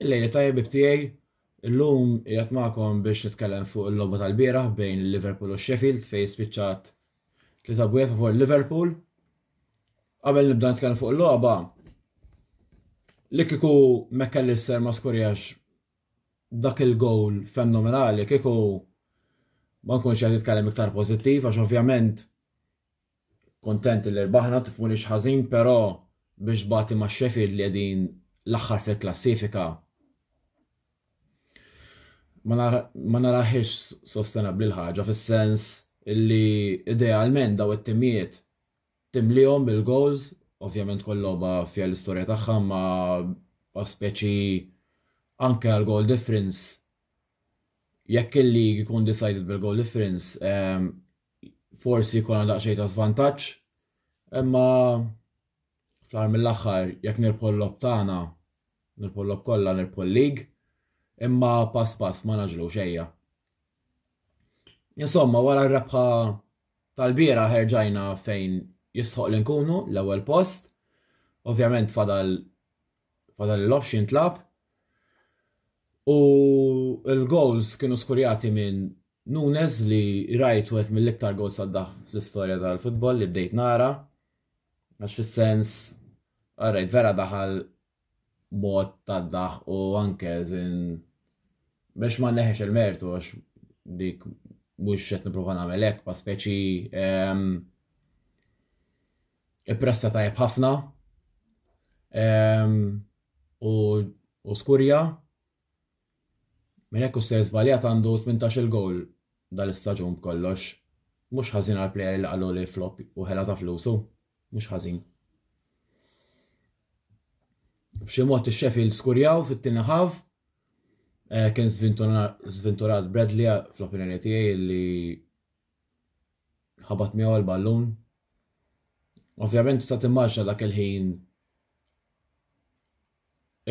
Il-lejli tajjeb ibtijaj, illum jgħat maħkom biex nitkellem fuq il-logħba tal-bieraħ bejn il-Liverpool u Sheffield fej spiċċat li tabwiet fuq Liverpool. Qabel nibda nitkellem fuq il-logħba, li kiku McAllister ma skorjax dak il-gowl fenomenali, kiku ma nkunx qed nitkellem iktar pożittiv għax ovvjament Kuntent li rbaħna, tifhmunix ħażin, però biex tbati ma' Sheffield li qegħdin l-aħħar fil-klassifika ma narahiex sostenabbli l-ħaġa fis-sens li idealment daw it-timijiet timlihom bil-goals, ovvjament kull logħba fiha l-istorja tagħha ma speċi anke għal goal difference jekk il-lig ikun decided bil-goal difference forsi jkollna daqsxejn ta' żvantaġġ, imma fl-aħħar mill-aħħar jekk nirbħu l-lob tagħna, nirbħu l-lob kollha, nirbħu l-lig, imma pass pass ma naġlu xejja. Insomma, wara r-rebħa tal-bira ħerġajna fejn jistħoq li nkunu l-ewwel post. Ovvjament fadal Fadal il-logħob jintlab u l-goals kienu skurjati minn Nunes li rajt wieħed mill-iktar goals saddaħ fl-istorja tal-futbol li bdejt nara għax fis-sens għarrejt vera daħal mod tad-daħ u anke żin biex ma neħex il-mertu għax dik mhux qed nipprova nagħmel hekk pa speċi ehm, Ippressa tajjeb ħafna ehm, u skurja minn hekk u ser żbaljat għandu 18-il gowl dal-istaġun b'kollox. Mhux ħażin għal plejer li qalu li flop u ħela ta' flusu, mhux ħażin. B'xi mod ix-Sheffield skurjaw fit-tieni ħaf eh, kien żvinturat Bradley fl-opinjoni tiegħi li ħabat miegħu l-ballun. Ovvjament tista' timmaġna dak il-ħin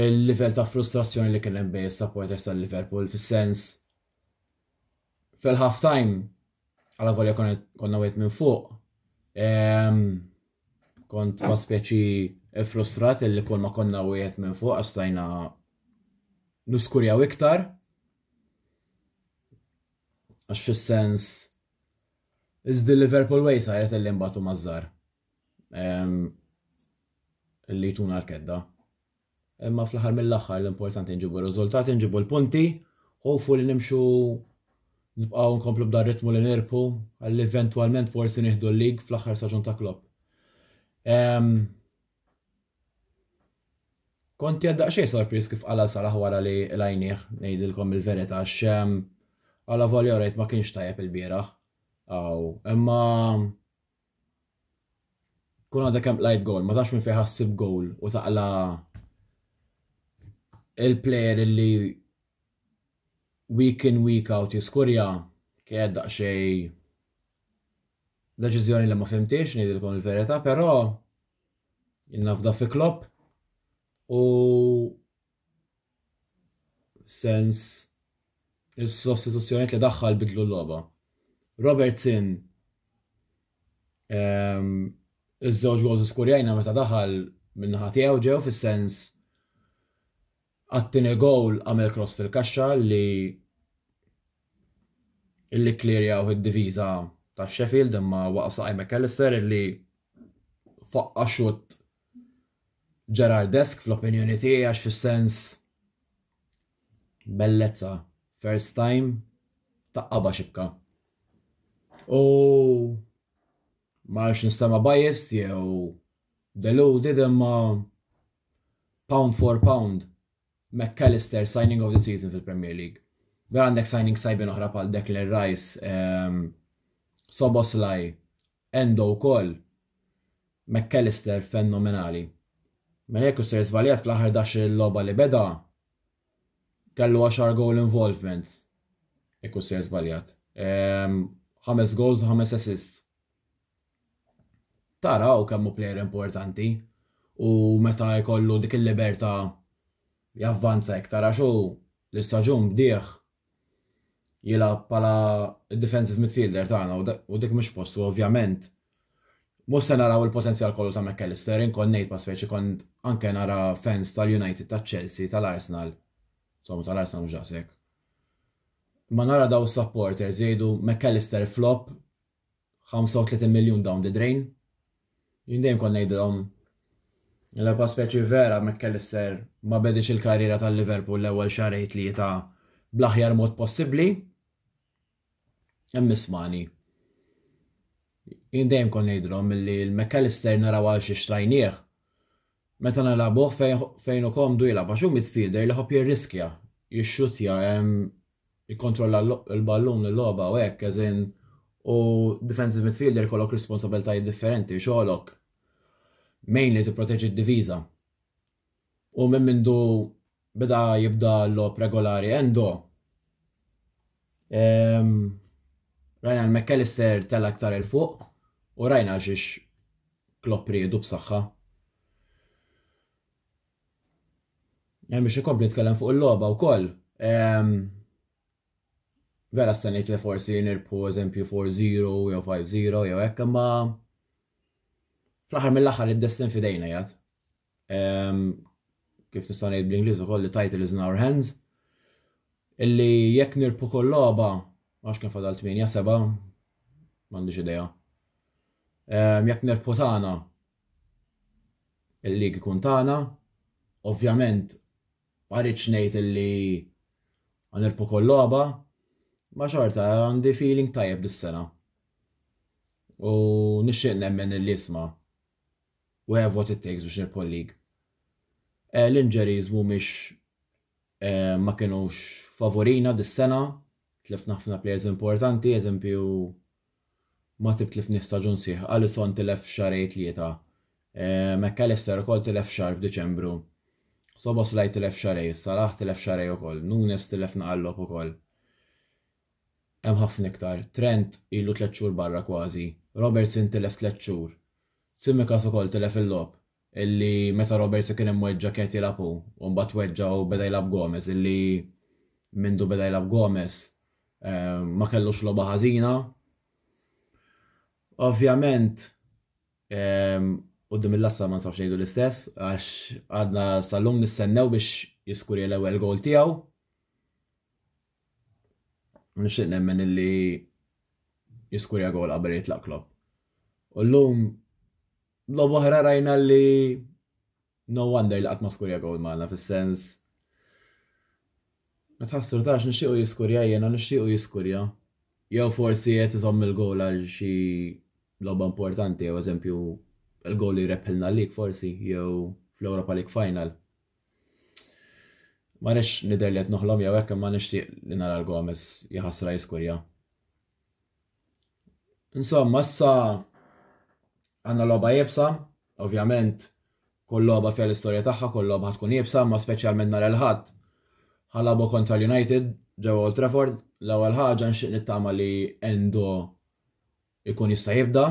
il-livell ta' frustrazzjoni li kien hemm bejn is-supporters tal-Liverpool fis-sens fil-half time għala volja konna wieħed minn fuq ehm, kont ma speċi frustrat li kol ma konna wieħed minn fuq għastajna nuskurjaw iktar Għax fis-sens It's the Liverpool way saret illi mbatu mażżar. Illi jtuna l-kedda. Imma fl-aħħar mill-aħħar l-importanti nġibu r-riżultati, nġibu l-punti, ħofu li nimxu nibqgħu nkomplu b'dar ritmu li nirpu, għalli eventwalment forsi nieħdu l-lig fl-aħħar saġun ta' Klopp. Kont qiegħed daqsxejn sorpriż kif qala' Salah wara li lajnieh, ngħidilkom il-verità għax għala volja rajt ma kienx tajjeb il-bieraħ. Aw, imma kun għadha kemm lajt gowl, ma tafx minn fejn ħassib gowl u taqla il-player li week in week out jiskurja kien daqsxejn Deċiżjoni li ma fhimtiex ngħidilkom il-verità, però jien nafda fi Klopp u sens il-sostituzzjoniet li daħħal bidlu l-logħba. Robertson ehm, iż-żewġ gols skurjajna meta daħal minn naħa tiegħu ġew fis-sens Għat-tieni gowl għamel cross fil-kaxxa li illi kklirjawh id-diviża ta' Sheffield imma waqaf saqaj McAllister illi faqqa' xutt Gerardesk fl-opinjoni tiegħi għax fis-sens bellezza first time taqqabha xibka. U ma nistema' biased jew deluded imma Pound for pound, Mac Allister signing of the season fil-Premier League. Vera għandek signings tajbin oħra bħal Declan Rice, ehm, Soboslaj, Endo wkoll, Mac Allister fenomenali. Mela jekk ser żbaljat fl-aħħar dax il-logħba li beda kellu 10 goal involvements. Jekk ser żbaljat. Ehm, ħames goals, ħames assists. taraw kemm hu plejer importanti u meta jkollu dik il-libertà javvanza iktar għax hu l-istaġun bdieħ jilgħab bħala defensive midfielder tagħna u dik mhux postu ovvjament. Mhux se naraw il-potenzjal kollu ta' McAllister, inkon ngħid ma speċi kont anke nara fans tal-United, tal-Chelsea, tal-Arsenal. Somma tal-Arsenal mhux daqshekk. Ma nara daw supporters jgħidu McAllister flop 35 miljun down the drain. Jien dejjem kont ngħidilhom l-ebqa' speċi vera McAllister ma bediex il-karriera tal-Liverpool l-ewwel xarej tlieta bl-aħjar mod possibbli. Hemm ismani. Jien dejjem kont ngħidilhom milli l-McAllister naraw għal xi xtrajnieh meta nilagħbuh fejn u komdu jilgħab għax hu midfielder li ħobb jirriskja, jixxutja hemm jikkontrolla l-ballun, il-logħba u hekk, as in u defensive midfielder ikollok responsabilitajiet differenti, xogħolok mainly tipproteġi d-diviża. U minn mindu beda jibda l-logħob regolari Endo. Ehm, rajna l-McAllister tella aktar il fuq u rajna xiex Klopp riedu b'saħħa. Hemm biex ikompli tkellem fuq il-logħba wkoll. Vera stanejt li forsi nirbħu eżempju 4-0 jew 5-0 jew hekk imma fl-aħħar mill-aħħar id-destin fidejna jgħat. Kif nista' ngħid bl-Ingliż ukoll li title is in our hands. Illi jekk nirbħu kull logħba għax kien fadal 8 7 m'għandix idea. Jekk nirbħu tagħna Il-lig ikun tagħna. Ovvjament ma rridx ngħid illi ħanirpu kol logħba, ma xorta għandi feeling tajjeb dis-sena. U nixtieq nemmen illi isma' u have what it takes biex nirpu l-lig. Eh, l-injuries mhumiex eh, ma kienux favorina dis-sena, tlifna ħafna players importanti, eżempju Matip tlif nieħ staġun sħiħ, Alisson tilef f'xahrej tlieta, Mac Allister ukoll tilef xahar f'Diċembru, Szoboszlai tilef xahrej, Salah tilef xahrej ukoll, Nunes tilef naqal logħob ukoll. Hemm ħafna iktar. Trent ilu tliet xhur barra kważi, Robertson tilef tliet xhur, Tsimikas ukoll tilef il-logħob. illi meta Robertson kien imweġġa' kienet jilgħab hu u mbagħad tweġġa' u beda jilgħab Gomez illi mindu beda jilgħab Gomez ma kellux logħba ħażina. Ovvjament qudiem il-lassa ma nsawx ngħidu l-istess għax għadna sal-lum nistennew biex jiskuri l-ewwel gol tiegħu. Nixtieq nemmen illi jiskurja gol qabel jitlaq Klopp. U llum Lob oħra rajna li no wonder li qatt ma skurja gowl magħna fis-sens ma tħassru tax nixtiequ jiskurja jiena nixtiequ jiskurja. Jew forsi qed iżomm il-gowl għal xi logħba importanti, jew eżempju il-gowl li jrebħilna lik forsi, jew fl-Europa League Final. Ma nix nider li qed noħlom jew hekk imma nixtieq li nara l-Gomez jħassra jiskurja. Insomma, issa għanna loba jibsa, ovvjament kull loba fja l-istorja tagħha, kull loba tkun jibsa, ma speċjalment nar il-ħadd. Ħalabu kontra l-United ġew Old Trafford, l-ewwel ħaġa nxieq nittama li Endo ikun jista' jibda.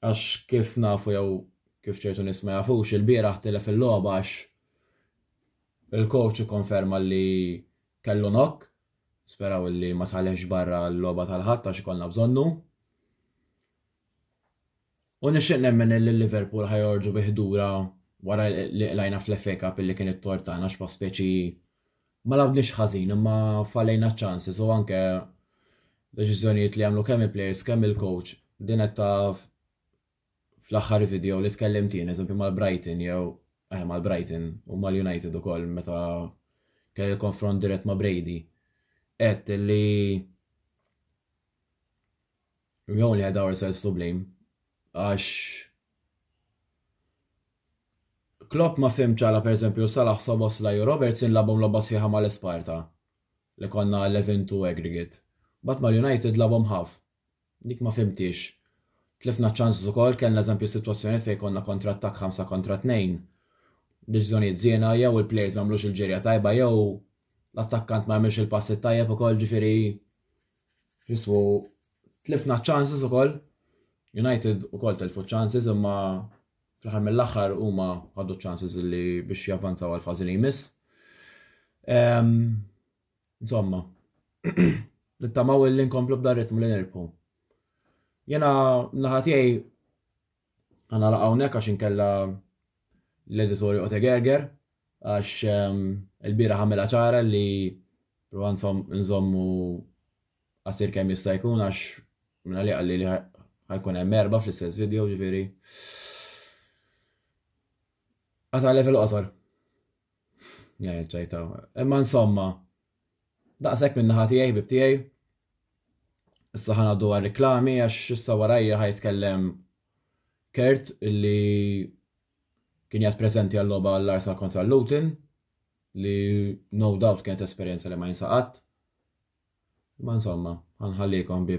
Għax kif nafu jew kif ċertu nies ma jafux, ilbieraħ tilef il-logħba għax il-coach ikkonferma li kellu knock, nisperaw li ma tħallehx barra l-logħba tal-Ħadd għax ikollna bżonnu. U nixtieq nemmen li Liverpool ħajorġu bi ħdura wara li qlajna fl-FA Cup li kien it-tort tagħna x'pa speċi Ma lagħbniex ħażin imma fallejna ċ-chances u anke deċiżjonijiet li għamlu kemm il-players kemm il-coach din qed taf fl-aħħar video li tkellimt jien eżempju mal-Brighton jew eh mal-Brighton u mal-United ukoll meta kell il-konfront dirett ma' Brady qed li We only had ourselves to blame. Għax Klopp ma fimx għala pereżempju Salah Sobos la Robertson labhom logħba sħiħa mal-Esparta li konna 11-2 aggregate. Mbagħad mal-United labhom ħaf. Dik ma fimtix. Tlifna ċans ukoll kellna eżempju sitwazzjonijiet fejn konna kontra attakk 5 kontra 2. Deċiżjonijiet żiena jew il-plejers ma għamlux il-ġerja tajba jew l-attakkant ma għamilx il-passi tajjeb ukoll ġifieri jismu tlifna chances ukoll. United ukoll telfu chances imma fl-aħħar mill-aħħar huma għaddu chances li biex javvanzaw għal fażi li jmiss. Ehm, insomma, nittamaw li nkomplu b'dar ritmu li nirpu. Jena naħatijaj Għanala hawnhekk għax inkella l-editor joqgħod egerger għax ehm, il-bira ħamela ċara li prova nżommu għasir kemm jista' jkun għax minna li għalli li ħajkun hemm erba' fl-istess video ġifieri. Għata level qosor. Ċajtaw. Imma insomma, Daqshekk minn naħa tiegħi ħbieb tiegħi. Issa ħa ngħaddu għar-riklami għax issa warajja ħa jitkellem Kurt illi kien jgħad preżenti għal-logħba għall-Arsenal kontra l-Luton li no doubt kienet esperjenza li ma jinsaqat. Ma insomma, ħanħallikom bi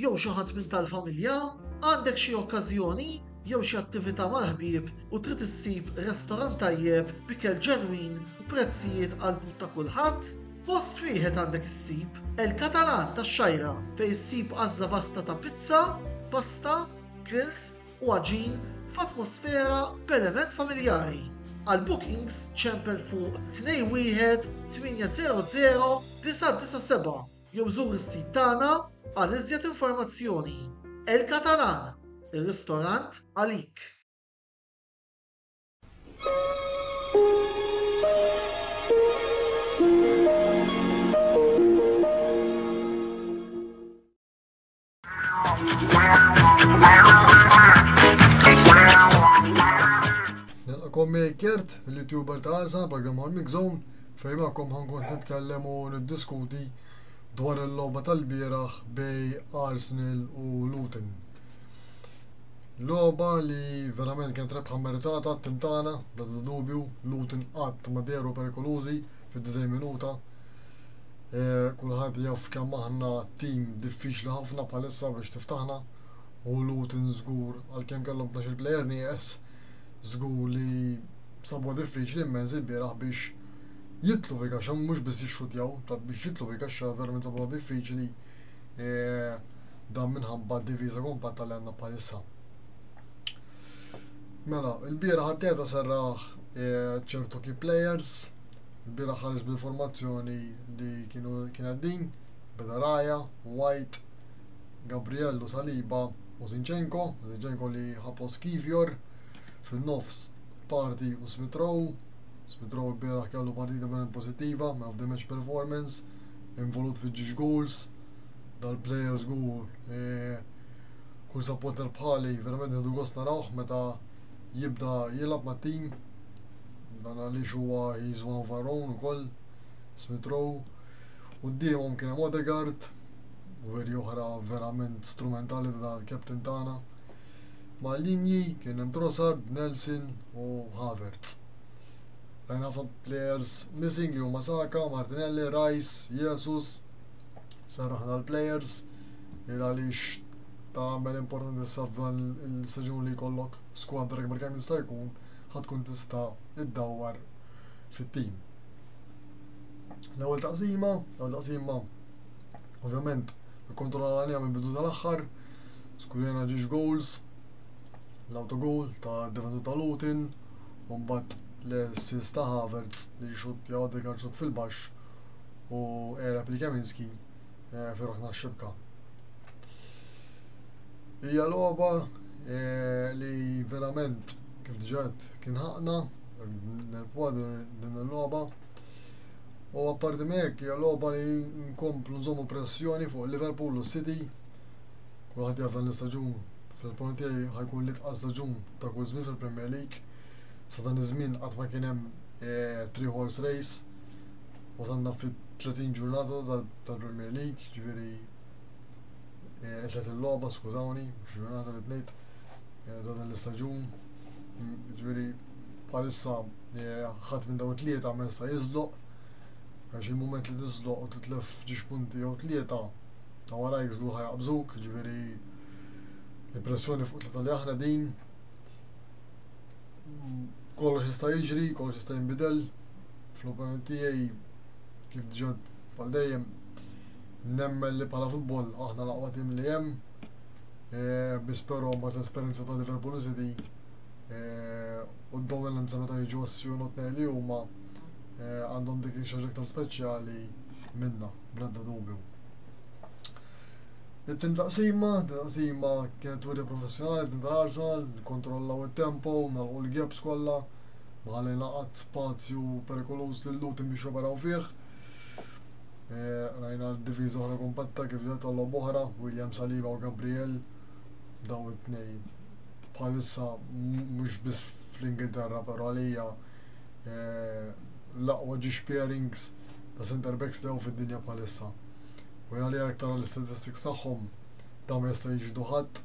jew xi ħadd minn tal-familja? Għandek xi okkażjoni jew xi attività mal-ħbieb u trid issib restorant tajjeb b'ikel ġenwin u prezzijiet għall-but ta' kulħadd? Post wieħed għandek issib, El Catalan tax-Xgħajra, fejn issib għażla vasta ta' pizza, pasta, grills u għaġin f'atmosfera b'element familjari. Għal bookings ċempel fuq 21800 997. Jew żur is-sit tagħna għal iżjed informazzjoni. El Catalan, ir-ristorant għalik! Nilqakom Kert, l-youtuber ta' Arsa, program għal Mixon, fejn maħkom ħankun nitkellem u niddiskuti dwar il-logħba tal-bieraħ bej Arsenal u Luton. Logħba li verament kienet rebħa meritata t-tintana, bla dubju, Luton qatt ma deru perikolużi fid-90 minuta, Kulħadd jaf kemm aħna tim diffiċli ħafna bħalissa biex tiftaħna u Luton żgur għalkemm kellhom tnax-il plejer nieqes żgur li sabuha diffiċli immens ilbieraħ biex jidħlu fil-kaxxa mhux biss jixxuttjaw ta' biex jidħlu fil-kaxxa verament sabuha diffiċli dan minħabba d-difiża kompatta li għandna bħalissa. Mela, ilbieraħ Arteta serraħ ċertu key players Il-bieraħ ħareġ bl-informazzjoni li kienu kien qed din, beda Raya, White, Gabriel u Saliba u Zinchenko, Zinchenko li ħa post Kiwior, fin-nofs Partey u Smith Rowe, Smith Rowe l-bieraħ kellu partita verament pożittiva, man of the match performance, involut fi ġiex goals, dal-player żgur e, kull supporter bħali verament ħedu gost narawh meta jibda jilgħab mat-tim Dan għaliex huwa he is one of our own ukoll, Smith Rowe. Quddiemhom kien hemm Odegaard, weri oħra verament strumentali ta' dan il-captain tagħna. Mal-linji kien hemm Trossard, Nelson u Havertz. Rajna ħafna players missing li huma Saka, Martinelli, Rice, Jesus. Sarraħna l-players il għaliex ta' għamel importanti s-safdan il-staġun li jkollok squad rekbar kemm jista' jkun ħa tkun tista' ddawwar fit-tim. L-ewwel taqsima, l-ewwel taqsima ovvjament ikkontrolla l-għalija minn bidu tal-aħħar, skurjana ġiex goals, l-autogol ta' defensur ta' Lutin, u mbagħad l-sis ta' Havertz li xut jgħoddi karċut fil-baxx u erab li Kaminski eh, fi ruħna xibka. Hija logħba eh, li verament kif diġant kien ħaqna nerpuha din il-logħba. U apparti mek hija logħba li nkomplu nżommu pressjoni fuq Liverpool u City. Kulħadd jaf dan l-istaġun fil-punt tiegħi ħajkun li tqas staġun ta' kull żmien fil-Premier League. Sa dan iż-żmien qatt ma kien hemm eh, three horse race Wasalna fit-30 ġurnata tal-Premier League, ġifieri qed eh, il-logħba, skużawni, mhux ġurnata li tnejt eh, ta' dan l-istaġun. Mm, ġifieri bħalissa eh, ħadd minn dawn tlieta ma jista' jiżloq għax il-moment li tiżloq u titlef ġiex punti jew tlieta ta' warajk żgur ħajaqbżuk, ġifieri l-pressjoni fuq tlieta li aħna din kollox jista' jiġri, kollox jista' jinbidel. Fl-opinjoni tiegħi kif diġà bħal dejjem nemmen li bħala futbol aħna l-aqwa tim li hemm. E, biss però mbagħad l-esperjenza ta' Liverpool City e, u d-dominanza meta jiġu għas-sjonot li huma e, għandhom dik xaġa aktar speċjali minna. bl-ebda dubju. It-tieni taqsima, it-tieni taqsima kienet wiri professjonali tintararsa, kontrollaw it-tempo, nagħlqu l-gaps kollha, ma ħallejna qatt spazju perikoluż lil Luton biex joperaw fih. E, rajna d-diviża oħra kompatta kif ġiet għal oħra, William Saliba u Gabriel daw it-tnej bħalissa mhux biss fl-Ingilterra però għalija e, l-aqwa dish pairings ta' centre backs li hawn fid-dinja bħalissa. U jien għalija jekk tara l-istatistics tagħhom dawn ma jistgħu jiġildu ħadd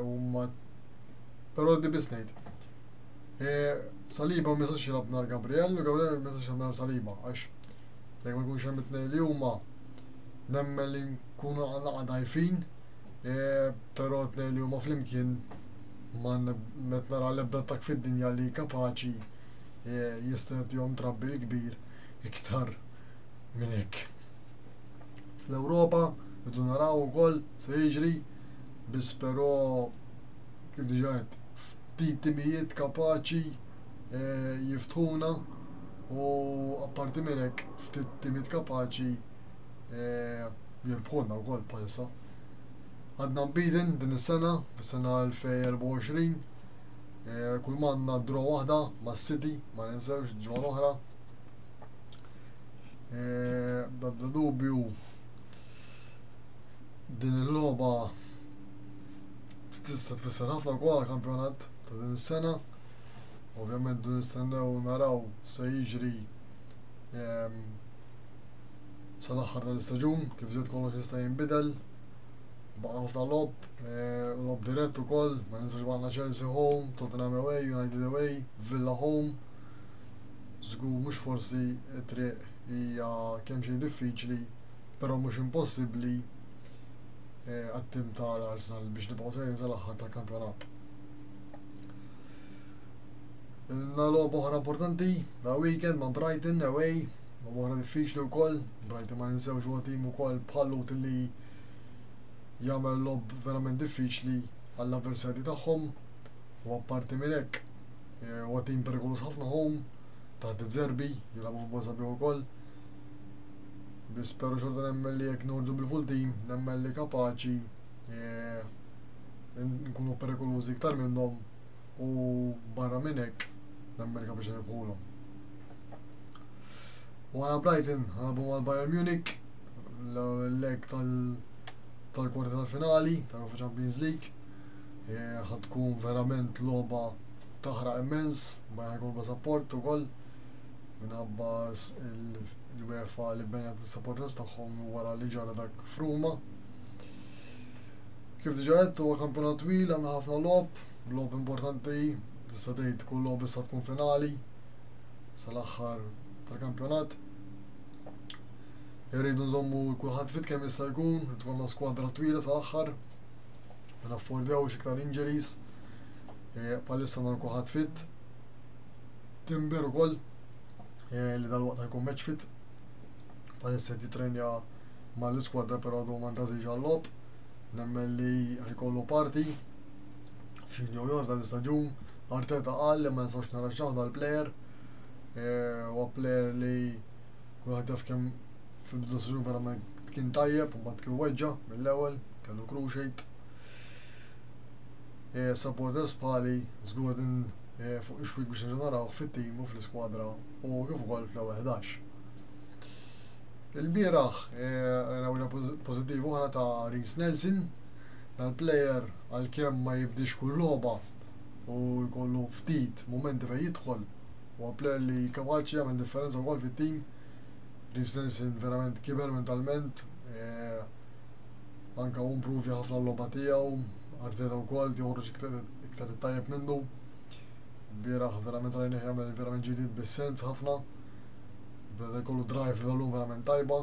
huma però di biss ngħid. Saliba ma jistax jilgħab nar Gabriel u Gabriel ma jistax jilgħab nar Saliba għax jekk ma jkunx hemm it-tnejn li huma nemmen li nkunu għal dajfin però t-tnejn li huma flimkien ma qed nara l-ebda attakk fid-dinja li kapaċi jista' jagħtihom trabbil kbir iktar minn hekk. Fl-Ewropa rridu naraw ukoll se jiġri biss però kif diġà qed ftit timijiet kapaċi eh, jiftħuna u apparti minn hekk ftit timijiet kapaċi eh, jirbħuna wkoll bħalissa. Għadna mbidin din is-sena, fis-sena 2024, Kull manna draw waħda ma' City, ma ninsewx ġimgħa l-oħra. Dabda dubju din il-logħba tista' tfisser ħafna wkoll kampjonat ta' din is-sena. Ovvjament dun nistennew naraw se jiġri ehm, sal-aħħar tal-istaġun kif ġiet kollox jista' jinbidel. Baqa' ħafna lob, Logħob dirett ukoll, ma ninsax għandna Chelsea home, Tottenham away, United away, Villa home. Żgur mhux forsi t-triq hija kemm xejn diffiċli, però mhux impossibbli għat-tim tal-Arsenal biex nibqgħu sejrin sal-aħħar tal-kampjonat. Ilna logħba oħra importanti, da weekend ma' Brighton away, logħba oħra diffiċli wkoll, Brighton ma ninsewx huwa tim ukoll bħal Luton li jagħmel logħob verament diffiċli għall-avversarji tagħhom u apparti minn hekk eh, huwa tim perikoluż ħafna home taħt iż-żerbi jilagħbu futbol sabiħ ukoll. Biss però xorta nemmen li jekk norġu bil-full team nemmen li kapaċi eh, nkunu perikolużi iktar minnhom u barra minn hekk l-Amerika biex irebħulhom. Wara Brighton ħarbu mal-Bayern Munich l-leg tal-kwarti tal-finali tal-UEFA Champions League. E, ħatkun verament logħba taħraq immens, ma jħajkun support ukoll minħabba l-UEFA li benjat il-supporters tagħhom wara li ġara dak fruma. Kif diġa għedt huwa kampjonat twil għandna ħafna lob, Logħob importanti, tista' tgħid kull logħob issa tkun finali sal-aħħar tal-kampjonat. Irridu nżommu kulħadd fit kemm jista' jkun, tkollna skwadra twila sal-aħħar. Ma naffordjawx iktar injuries. Eh, palissa dan kulħadd fit. Timber ukoll eh, li dal-waqt jkun match fit. Palissa titrenja mal-iskwadra però għadu ma ntażilx għall-lob. Nemmen li ħajkollu parti f'xi jew ieħor f'dan l-istaġun. Arteta qal li ma nistax nirraxxaw dal-plejer. Huwa eh, plejer li kulħadd jaf kemm fil-bidu s-sġun verament kien tajjeb u mbagħad kien weġġa' mill-ewwel, kellu cruciate. Eh, supporters bħali żgur din eh, fuq ix-xwik biex nġenerawh fit-tim u fl-iskwadra u kif ukoll fl-ewwel 11. Il-bieraħ, rajna pożittiv oħra ta' Reese Nelson, dal-plejer għalkemm ma jibdiex kull logħba u jkollu ftit mumenti fejn jidħol, huwa plejer li kapaċi jagħmel differenza wkoll fit-tim. Christensen verament kiber mentalment, anke hu improvja ħafna l-logħba tiegħu, Arteta wkoll qed joħroġ iktar it-tajjeb minnu. Bieraħ verament rajnih jagħmel verament ġidid bis-sens ħafna. Beda jkollu drive l-għalum verament tajba.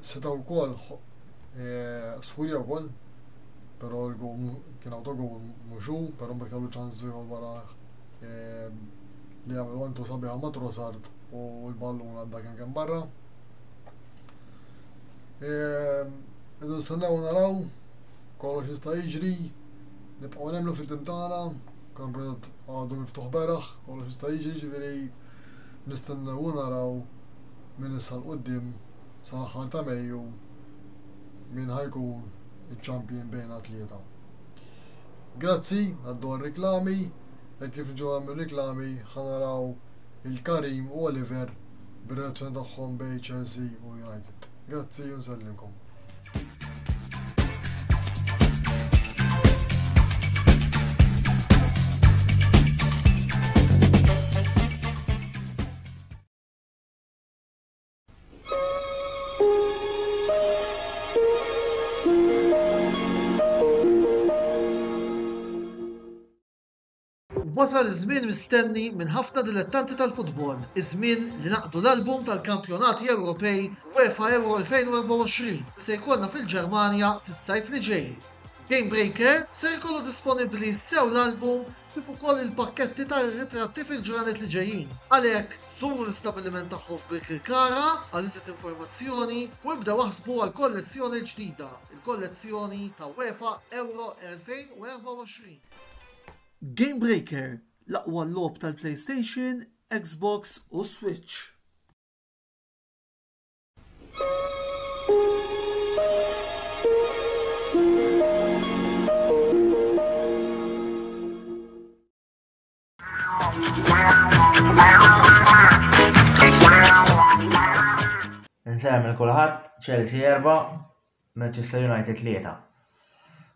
Seta' wkoll Eh, Skulja u koll, pero l-gum kien autogum muxu, pero mbagħad kellu ċansu jħol wara eh, li għamil għantu sabiħa ma' Trossard u l-ballun għadda kien kien barra. Eh, Idu nistennew naraw, kollox jista' jiġri, nibqgħu nemmlu fit-tim tagħna, kampjonat għadu miftuħ beraħ, kollox jista' jiġri, ġifieri nistennew naraw minn issa l-qoddim sal-aħħar ta' Mejju min ħa jkun iċ-champion bejn athleta. Grazzi għad-dwar riklami, hekk kif ġew hemm ir-riklami ħa naraw il-Karim u Oliver bir-relazzjoni tagħhom bejn Chelsea u United. Grazzi u nsellimkom. Wasal iż-żmien mistenni minn ħafna dilettanti tal-futbol, iż-żmien li naqdu l-album tal-kampjonati Ewropej UEFA Euro 2024 se jkollna fil-Ġermanja fis-sajf li ġej. Game Breaker se jkollu disponibbli sew l-album kif ukoll il-pakketti tar-ritratti fil-ġranet li ġejjin. Għalhekk, żuru l-istabbiliment tagħhom f'Birkirkara għal iżjed informazzjoni u ibdew aħsbu għall-kollezzjoni l-ġdida, il-kollezzjoni ta' UEFA Euro 2024. Game Breaker, l-aqwa logħob tal-PlayStation, Xbox u Switch. Nsem il-kulħadd Chelsea erba, Manchester United tlieta.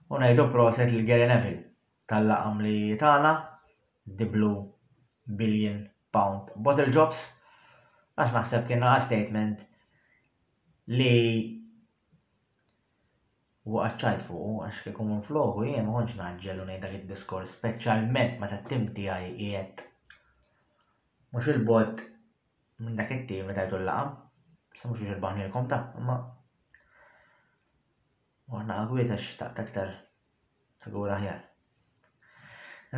U ngħidu proset lil Gary Neville tal-laqam li tagħna diblu billion pound bottle jobs għax naħseb kien naqa' statement li u għaċċajt fuqu għax kieku minn floku jien ma kontx naġġel u ngħid dak id-diskors speċjalment meta t-tim tiegħi qiegħed mhux il-bot minn dak it-tim meta jgħidu l-laqam, sa mhux biex il-baħnilkom ta' imma u aħna għagwiet għax taqt aktar Sigur aħjar.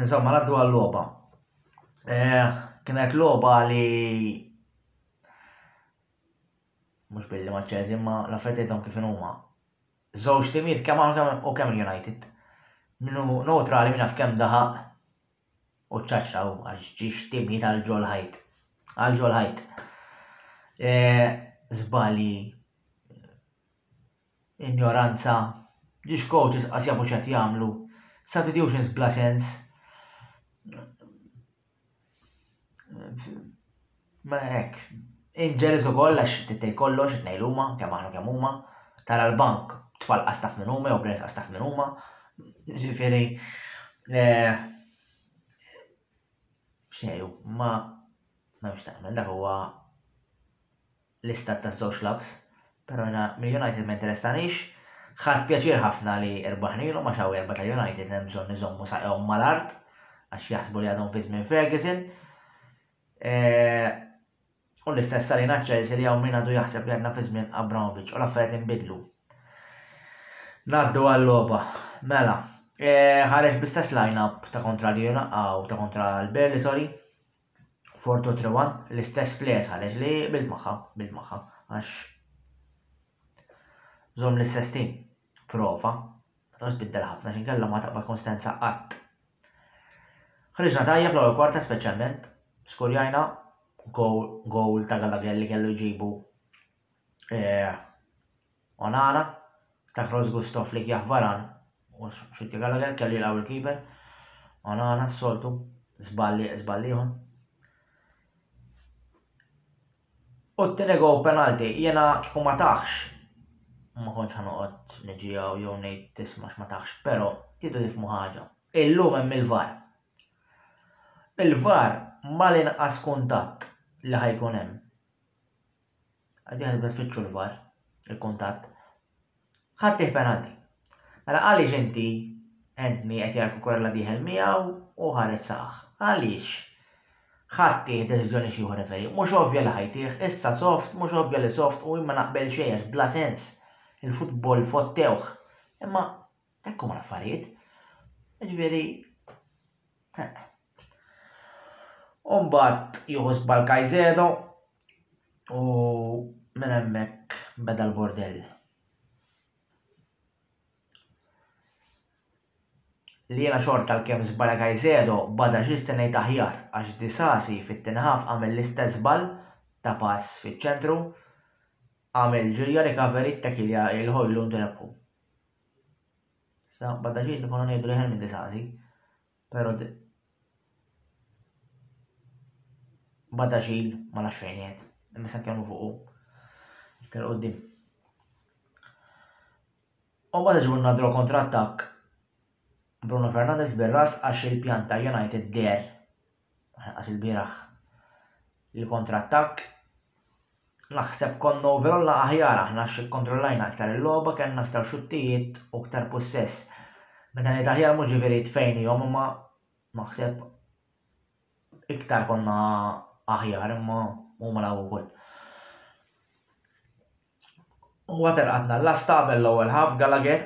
Insomma, naddu għal-loba. Eh, kienet loba li mux billi maċċez, imma la fetietom kif huma. Żewġ timiet kemm u kemm United. Minu neutrali minna f'kemm daħaq u ċaċra u għax ġiex timiet għal ġol ħajt. Għal ġol ħajt. Zbali eh, Injoranza, Ġiex coaches qas jafu x'qed jagħmlu. Substitutions bla sens. Ma hekk. Inġelis ukoll għax tittej kollox qed ngħidu huma, kemm aħna kemm huma. Tara l-bank tfal qas taf minn huma jew players qas taf minn huma. Ġifieri eh, xejn ma ma nix taqmen dak huwa l-istat taż-żewġ clubs, però jiena mill-United ma jinteressanix. Ħadt pjaċir ħafna li rbaħnilhom għax hawn erbgħa tal-United hemm bżonn iżommu saqajhom mal-art għax jaħsbu li għadhom fi żmien Ferguson. Eh, U l-istess għalina ċelsi li għaw min għadu jaħseb li għadna fi żmien Abramovic u l-affarijiet inbidlu. Naddu għall-loba. Mela, e, ħareġ bistess line-up ta' kontra l-Jena u ta' kontra l-Berli, sorry. For two three one, l-istess place ħareġ li bil magħha, bil magħha, għax żomm l-istess tim. Prova, ma tbiddel ħafna x'inkella ma taqbad konsistenza qatt. Ħriġna tajjeb l-ewwel kwarta speċjalment, skurjajna gowl ta' Gallagher li kellu jġibu eh, Onana, Takros Gusto, Flick Jah Varan u Shinty Gallagher kellu jilqgħu l-keeper. Onana s-soltu, żball li żball ieħor. U t-tieni gow penalti, jiena kieku ma taħx ma kontx ħanoqgħod niġijaw jew ngħid tisma' x'ma taħx, però tidu tifmu ħaġa. Illum hemm il-VAR. Il-VAR mal-inqas kuntatt li ħajkun hemm. Qegħdin għadna tfittxu l-VAR, il-kuntatt. Ħadtih penalti. Mela għaliex inti Anthony qed jara Cucurella dieħel miegħu u ħareġ saqaħ? Għaliex? Ħadtih deċiżjoni xi ieħor referi. Mhux ovvja li ħajtih, issa soft, mhux ovvja li soft u jien ma naqbel xejn għax bla sens. Il-futbol fottewh. Imma hekk huma l-affarijiet. Ġifieri Umbat juhu zbal Kajzedo, U minn hemmhekk beda l-bordell. Li jiena xorta għalkemm żbala Caicedo bada xi stennejt aħjar għax Disasi fit-tieni half għamel l-istess żball ta' pass fiċ-ċentru, għamel ġirja recovery ttakilja lil Hojlund u rebħu. Issa bada xejn li konna ngħidu li Hermin Disasi Pero de bada ġil ma nafx fejn jgħid, imma se nkellmu fuqu iktar qudiem. U bada ġibu nadru kontra attakk Bruno Fernandez bir-ras għax il-pjan ta' United der għax il-bieraħ li kontra attakk Naħseb konna overall aħjar aħna għax ikkontrollajna iktar il-logħba, kellna iktar xuttijiet u iktar pussess. Meta ngħid aħjar mhux ġifieri tfejnihom imma naħseb iktar konna aħjar imma huma law ukoll. U għater għadna l-lasta qabel l-ewwel ħaf Gallagher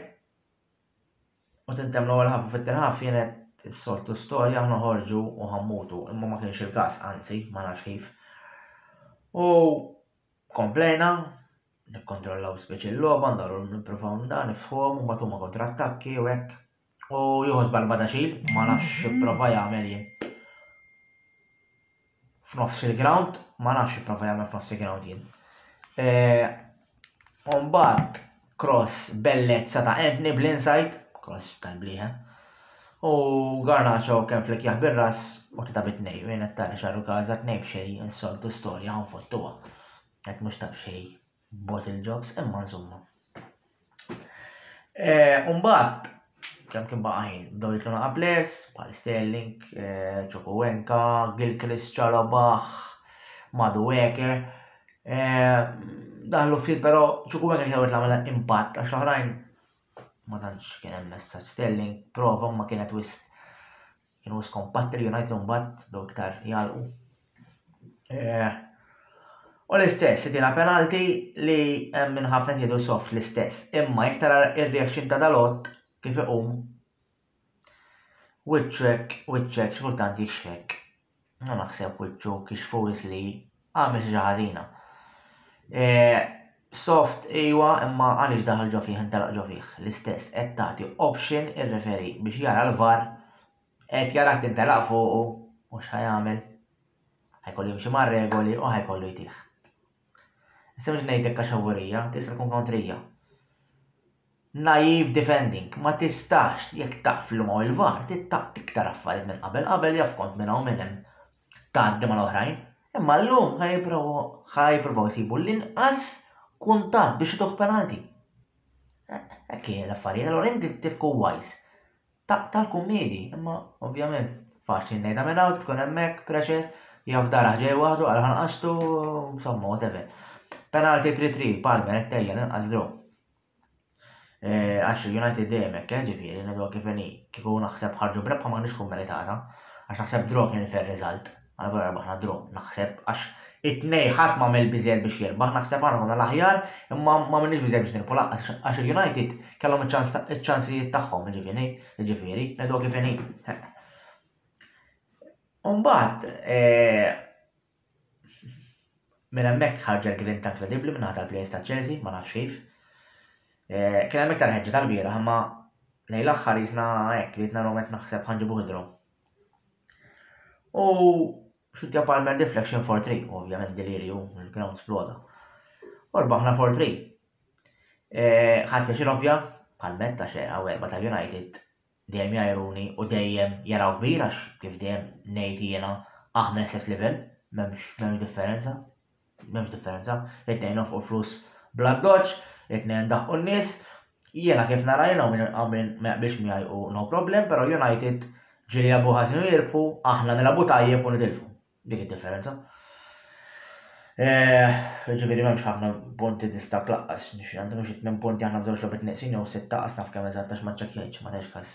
U tintemm l-ewwel ħabba fit-tirħaf kienet is-soltu storja aħna ħorġu u ħammutu, imma ma kienx il-każ, anzi, ma nafx kif. U komplejna, nikkontrollaw speċi l-logħba, ndaru nippruvaw nda nifhom u mbagħad huma kontrattakki u hekk. U jieħu żball badaxil, ma nafx x'ipprova jagħmel jien. F'nofs il-ground, ma nafx x'ipprova jagħmel f'nofs il-ground jien. U mbagħad cross bellezza ta' Anthony bl-inside, cross tal-blieħa. U Garnacho kemm flik jaħ bir-ras u tita' bit-tnej, u jien qed tara xarru każa tnej b'xejn, insoltu storja ħanfottuha. Qed mhux ta' b'xejn. bottle jobs, imma insomma. Eh, Umbat, kem kien baqa' ħin, bdew jitlu naqa' players, bħal Sterling, eh, Ċokowenka, Gilchrist, Ċarobaħ, Madu Weker. Eh, dan l ftit però Ċokowenka kien għamil għamela impatt għax oħrajn ma tantx kien hemm messaġġ Sterling prova ma kienet wisq Kienu wis kompatti li United mbagħad bdew iktar jgħalqu. Eh, u l-istess, tina penalti li hemm minn ħafna jgħidu soft l-istess. Imma jekk tara ir-reaction ta' dalot kif iqum wiċċek wiċċek x'kultant jixħek. Hu naħseb wiċċu kixfu wis li għamel xi ġa ħażina. Soft ejwa imma għaliex daħal ġo fih intelaq ġo fih l-istess qed tagħti option ir-referi biex jara l-var qed jarak tintelaq fuqu u x'ħa jagħmel? Ħa jkollu jimxi mar-regoli u ħa jkollu jtih. Sewġ ngħidlek għax awgurija, tista' tkun kontrija. Naive defending, ma tistax jekk taf li ma il-var tittaq tiktar affarijiet minn qabel qabel jaf kont minn hawn minn hemm tgħaddi mal-oħrajn. Imma llum ħa jippruvaw jsibu l-inqas kuntatt biex ituh penalti. Hekk hija l-affarijiet, allura inti tifku wise. Ta' tal-kummedi, imma ovvjament faċli ngħidha minn hawn, tkun hemmhekk, pressure, jew f'darah ġej waħdu għal ħanqastu, insomma whatever. Penalty 3-3, Palmer qed tejjel inqas draw. Eh, għax United dejjem hekk, eh, ġifieri, ngħidu kif inhi, kieku naħseb ħarġu brebħa ma kienx tkun meritata, għax naħseb draw kien fair result. Għal wara rebħna draw, naħseb, għax it-tnejn ħadd m'għamel biżżejjed biex jirbaħ, naħseb aħna konna l-aħjar imma m'għamilniex biżżejjed biex nirbħu lanqas għax il-United kellhom iċ-ċansijiet tagħhom, jiġifieri, ngħiduha kif inhi. U mbagħad minn hemmhekk ħarġet grinta inkredibbli minn naħa tal-players ta' Chelsea, ma nafx kif. Kien hemm iktar ħeġġa tal-bieraħ imma lejn l-aħħar jisna hekk ridna l naħseb ħanġibu ħidru. U xitja Palmer deflection for 3, ovvjament delirju, il-ground sploda. U rbaħna for 3. E, ħadd biex ovvja, Palmer ta' xeqa u erba tal-United dejjem jajruni u dejjem jaraw kbir għax kif dejjem ngħid jiena aħna l-istess livell, m'hemmx differenza. M'hemmx differenza, it-tnejn nonfqu l-flus bl-addoċċ, it-tnejn ndaħqu n-nies. Jiena kif nara jiena u min ma jaqbilx miegħi hu no problem, però United ġieli jilagħbu ħażin u jirbħu, aħna nilagħbu tajjeb u nitilfu. Dik id-differenza. Jiġifieri m'hemmx ħafna punti distakk laqqas, għandhom xi tmien punti aħna b'żewġ logħbiet neqsin jew sitta qas naf kemm eżatt għax ma ċċekkjajtx, ma tgħidx każ.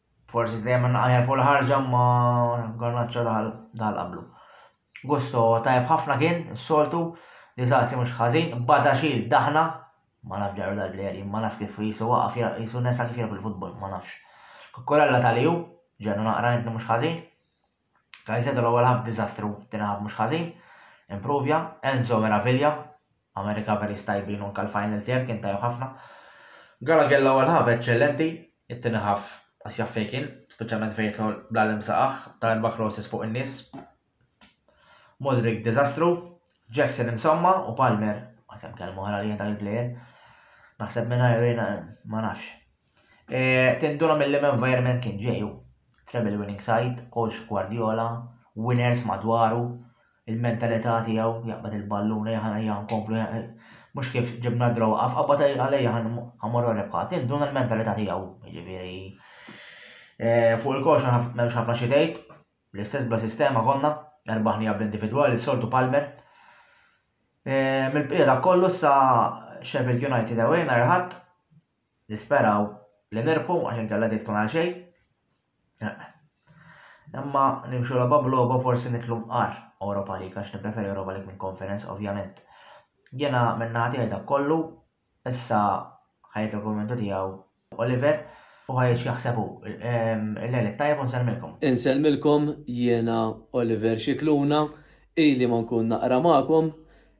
Forsi se jemmen naqajja fuq l-ħarġa ma Garnaċċo daħal daħal qablu. Gusto tajb ħafna kien, is-soltu, li Zazzi mhux ħażin, bada xil daħna, ma naf ġaru dal-plejer jien ma naf kif jisu waqaf jisu nesa kif jirab il-futbol, ma nafx. Kukkurella tal-ju, ġenna naqra inti mhux ħażin. Caicedo l-ewwel half diżastru, t-tieni half mhux ħażin, improvja, Enzo meraviglia, għamel recoveries tajbin u anke l-final third kien tajjeb ħafna. Gallagher l-ewwel half eċċellenti, it-tieni half qas jaf fejn kien, speċjalment fejn jidħol bla l saqaħ, ta' erba' crosses fuq in-nies. Modric diżastru, Jackson insomma u Palmer, għasem kelmu ħala li jien dak il-plejer. Naħseb minn ma nafx. Eh, Tinduna mill-lim environment kien ġeju. Treble winning side, coach Guardiola, winners madwaru, il-mentalità tiegħu jaqbad il-balluna jaħna hija nkomplu mhux kif ġibna draw qaf qabad għalejja ħamorru rebħa. Tinduna l-mentalità tiegħu, jiġifieri eh, fuq il-koxa m'hemmx ħafna xi tgħid, l-istess bla sistema konna, erbaħni għab individwali, soltu Palmer. Eh, mill-bqija kollu sa Sheffield United away nhar ħadd Nisperaw li nirbħu għax inkella din tkun għal xejn. Imma nimxu logħba b'logħba forsi nitlu mqar Europa League għax nippreferi Europa League minn Conference ovvjament. Jiena minn naħa tiegħi dak kollu, issa ħajt il-kummentu tiegħu Oliver u ħajt x'jaħseb hu. Ehm, Il-lejl it-tajjeb u nsellmilkom. Insellmilkom jiena Oliver Xikluna, ili ma nkun naqra magħkom,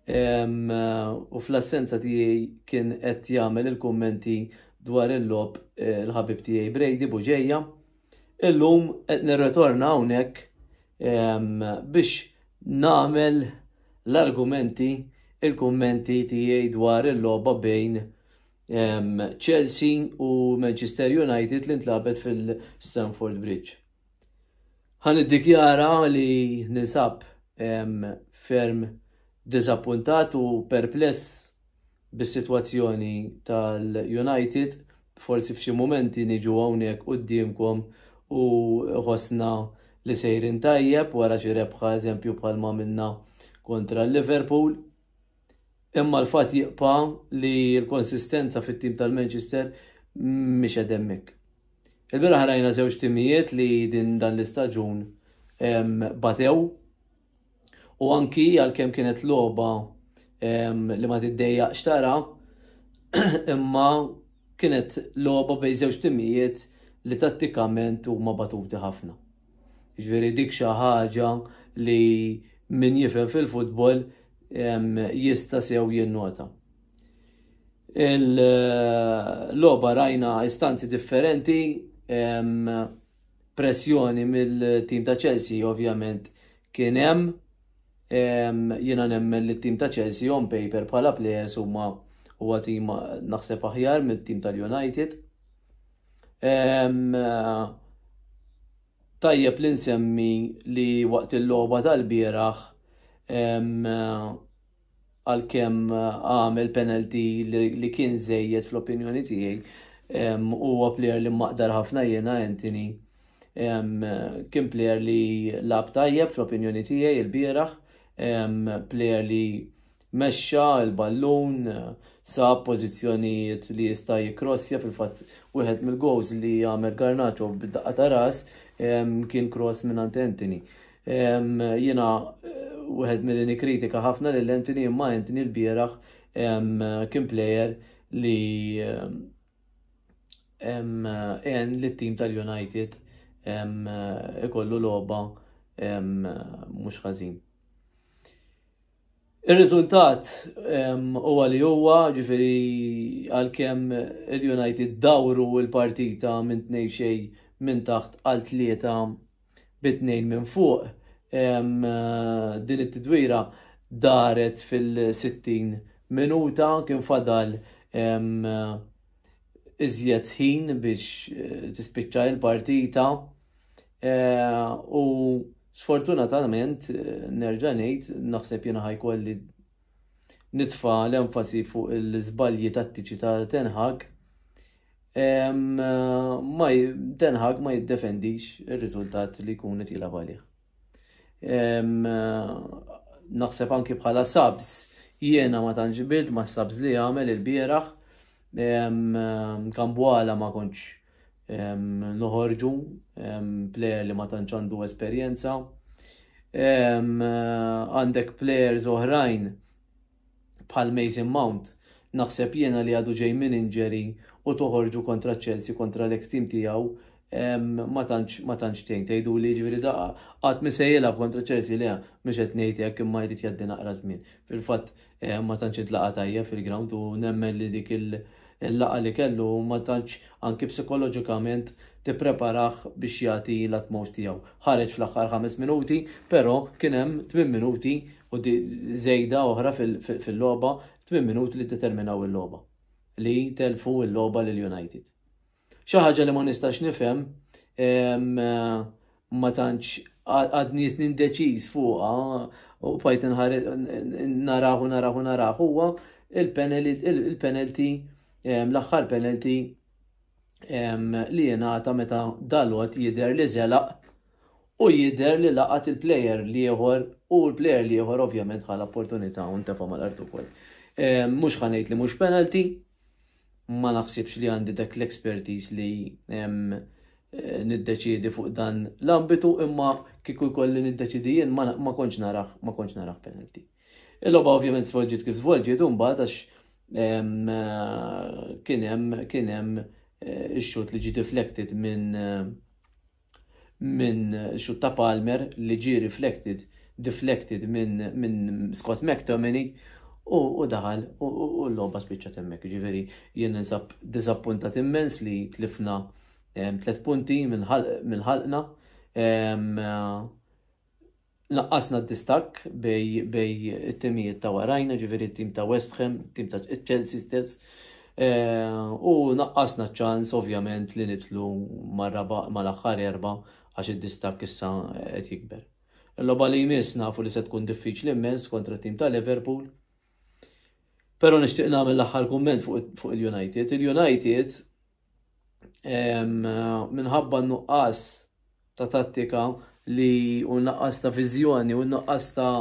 u fl-assenza tiegħi kien qed jagħmel il-kummenti dwar il-lob eh, l-ħabib tiegħi Brady Buġeja. Illum qed nirretorna hawnhekk biex nagħmel l-argumenti il-kummenti tiegħi dwar il-logħba bejn Chelsea u Manchester United li ntlabet fil-Stamford Bridge. Ħa niddikjara li ninsab ferm diżappuntat u perpless bis-sitwazzjoni tal-United. Forsi f'xi mumenti niġu hawnhekk quddiemkom u ħossna li sejrin tajjeb wara xi rebħa eżempju bħalma għamilna kontra l-Liverpool. Imma l-fatt jibqa' li l-konsistenza fit-tim tal-Manchester mhix qed hemmhekk. Il-bieraħ rajna żewġ timijiet li din dan l-istaġun batew u anki għalkemm kienet logħba li ma tiddejjaqx tara imma kienet logħba bejn żewġ timijiet li tattikament huma batuti ħafna. Jiġifieri dik xi ħaġa li min jifhem fil-futbol jista' sew jinnota. Il-logħba rajna istanzi differenti, pressjoni mill-tim ta' Chelsea ovvjament kien hemm jiena nemmen li t-tim ta' Chelsea on paper bħala players huma huwa tim naħseb aħjar mit-tim tal-United. Tajjeb li nsemmi li waqt il-logħba tal-bieraħ għalkemm għamel penalty li kien żejjed fl-opinjoni tiegħi huwa plejer li maqdar ħafna jiena Anthony kien plejer li lab tajjeb fl-opinjoni tiegħi il-bieraħ plejer li Mexxa l-ballun, sab pożizzjonijiet li jista' jikkrossja, fil-fatt wieħed mill-gowls li għamel Garnacho bid-daqqa ta' ras kien kross mingħand Antony. Jiena wieħed milli nikkritika ħafna lil Antony imma Antony l-bieraħ kien plejer li għen lit-tim tal-United ikollu logħba mhux ħażin. Ir-riżultat huwa li huwa, ġifieri għalkemm il-United dawru l-partita minn tnejn xejn minn taħt għal tlieta bi tnejn minn fuq, din it-tidwira daret fil-60 minuta kien fadal iżjed ħin biex tispiċċa l-partita. Eh, u sfortunatament, eh, nerġa' ngħid, naħseb jiena ħajkolli nitfa l-enfasi fuq l-iżbalji tattiċi ta' tenħak ma tenħak ma jiddefendix ir-riżultat li jkun qed jilgħab għalih. Naħseb anki bħala sabs jiena ma tantx ma sabs li għamel il-bieraħ kambwala ma kontx noħorġu plejer li ma tantx għandu esperjenza. Għandek plejers oħrajn bħal Mason Mount, naħseb jiena li għadu ġej minn inġeri u toħorġu kontra Chelsea kontra l-ex team tiegħu ma tantx ma tantx tgħin tgħidu li ġifieri daqqa qatt misejjela kontra Chelsea le mhux qed ngħid hekk imma jrid jgħaddi naqra żmien. Fil-fatt ma tantx intlaqa' tajjeb fil-ground u nemmen li dik il-laqgħa li kellu ma tantx anki psikoloġikament tippreparah biex jagħti l-utmost tiegħu. Ħareġ fl-aħħar ħames minuti, però kien hemm tmien minuti u żejda oħra fil-logħba, tmien minuti li ddeterminaw il-logħba, li tellfu l-logħba lil United. Xi ħaġa li ma nistax nifhem ma tantx għad nies nindeċiż fuqha u bajt narahu narahu narahu huwa il-penalty l-aħħar penalty li jenata meta dalot jider li zelaq u jider li laqat il-player li jħor u l-player li jħor ovvjament għal opportunità un tefa mal-artu kol. Mux ħanajt li mux penalty, ma naħsibx li għandi dak l-expertise li niddeċiedi fuq dan l-ambitu imma kieku jkolli niddeċiedi jien ma kontx naraħ ma kontx naraħ penalty. Il-logħba ovvjament svolġiet kif svolġiet u mbagħad għax kien hemm kien hemm eh, ix-xut li ġi deflected minn eh, minn xutt ta' Palmer li ġie riflected, deflected minn Scott McTominay u daħal u l-logħba spiċċat hemmhekk. Jiġifieri jien ninsab diżappuntat immens li tlifna tliet punti minn ħalqna. Naqqasna d-distakk bejn it-timijiet ta' warajna, ġifieri t-tim ta' West Ham, it-tim ta' Chelsea stess, u naqqasna ċ-ċans ovvjament li nidħlu mal-aħħar erba' għax id-distakk issa qed jikber. Il-logħba li jmiss nafu li se tkun diffiċli immens kontra t-tim ta' Liverpool. Però nixtieq nagħmel l-aħħar kumment fuq il-United. Il-United minħabba nuqqas ta' tattika li u nuqqas ta' viżjoni u nuqqas ta'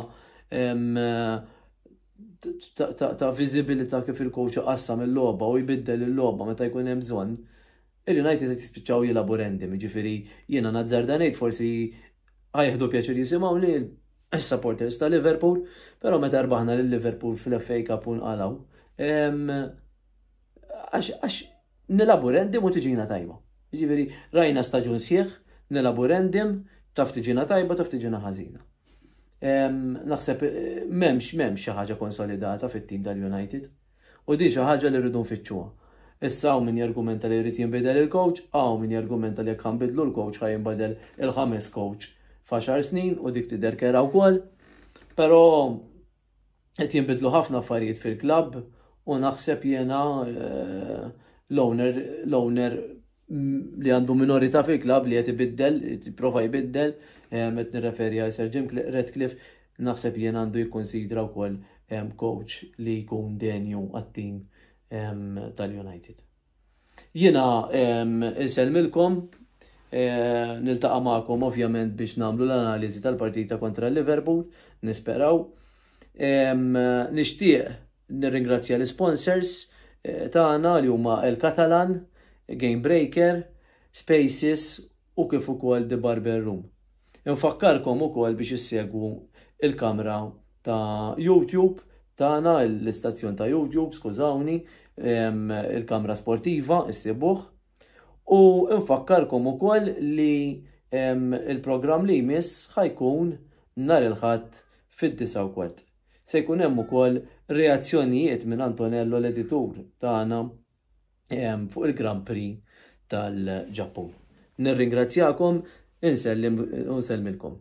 ta' viżibilità kif il-coach qassam il-logħba u jbiddel il-logħba meta jkun hemm bżonn, il-United se jispiċċaw jilagħbu random, jiġifieri jiena nazzarda ngħid forsi ħajħdu pjaċir jisimgħu li s-supporters ta' Liverpool, però meta rbaħna lil Liverpool fl-FA Cup u nqalgħu. Għax nilabu rendim u tiġina tajba. Ġifieri rajna staġun sħiħ, nilabu rendim, taf tiġina tajba, taf tiġina ħażina. Naħseb m'hemmx m'hemmx xi ħaġa konsolidata fit-tim tal-United u din xi ħaġa li rridu nfittxuha. Issa hawn min jargumenta li jrid jinbidel il-coach, hawn min jargumenta li jekk ħanbidlu l-coach ħa jinbidel il-ħames coach f'għaxar snin u dik tidher kera wkoll. Però qed jinbidlu ħafna affarijiet fil-klabb u naħseb jiena eh, l-owner l-owner li għandu minorita fil-klab li qed ibiddel, prova jbiddel, eh, qed nirreferi għal Sir Jim Redcliffe, naħseb jien għandu jikkonsidra wkoll eh, coach li jkun denju għat-tim eh, tal-United. Jiena insellmilkom, niltaqa' magħkom ovvjament biex nagħmlu l-analiżi tal-partita kontra Liverpool, nisperaw. Nixtieq nirringrazzja l-isponsors eh, tagħna li huma El Catalan, Game Breaker, Spaces u kif ukoll The Barber Room. Infakkarkom ukoll biex issegwu il-kamra ta' YouTube tagħna, l-istazzjon ta' YouTube, skużawni, il-kamra sportiva, issibuh. U infakkarkom ukoll li il-programm li jmiss ħajkun nar il-ħadd fid-disa u kwart. Se jkun hemm ukoll reazzjonijiet minn Antonello l-editur tagħna fuq il-Grand Prix tal-Ġappun. Nirringrazzjakom, insellim u nsellmilkom.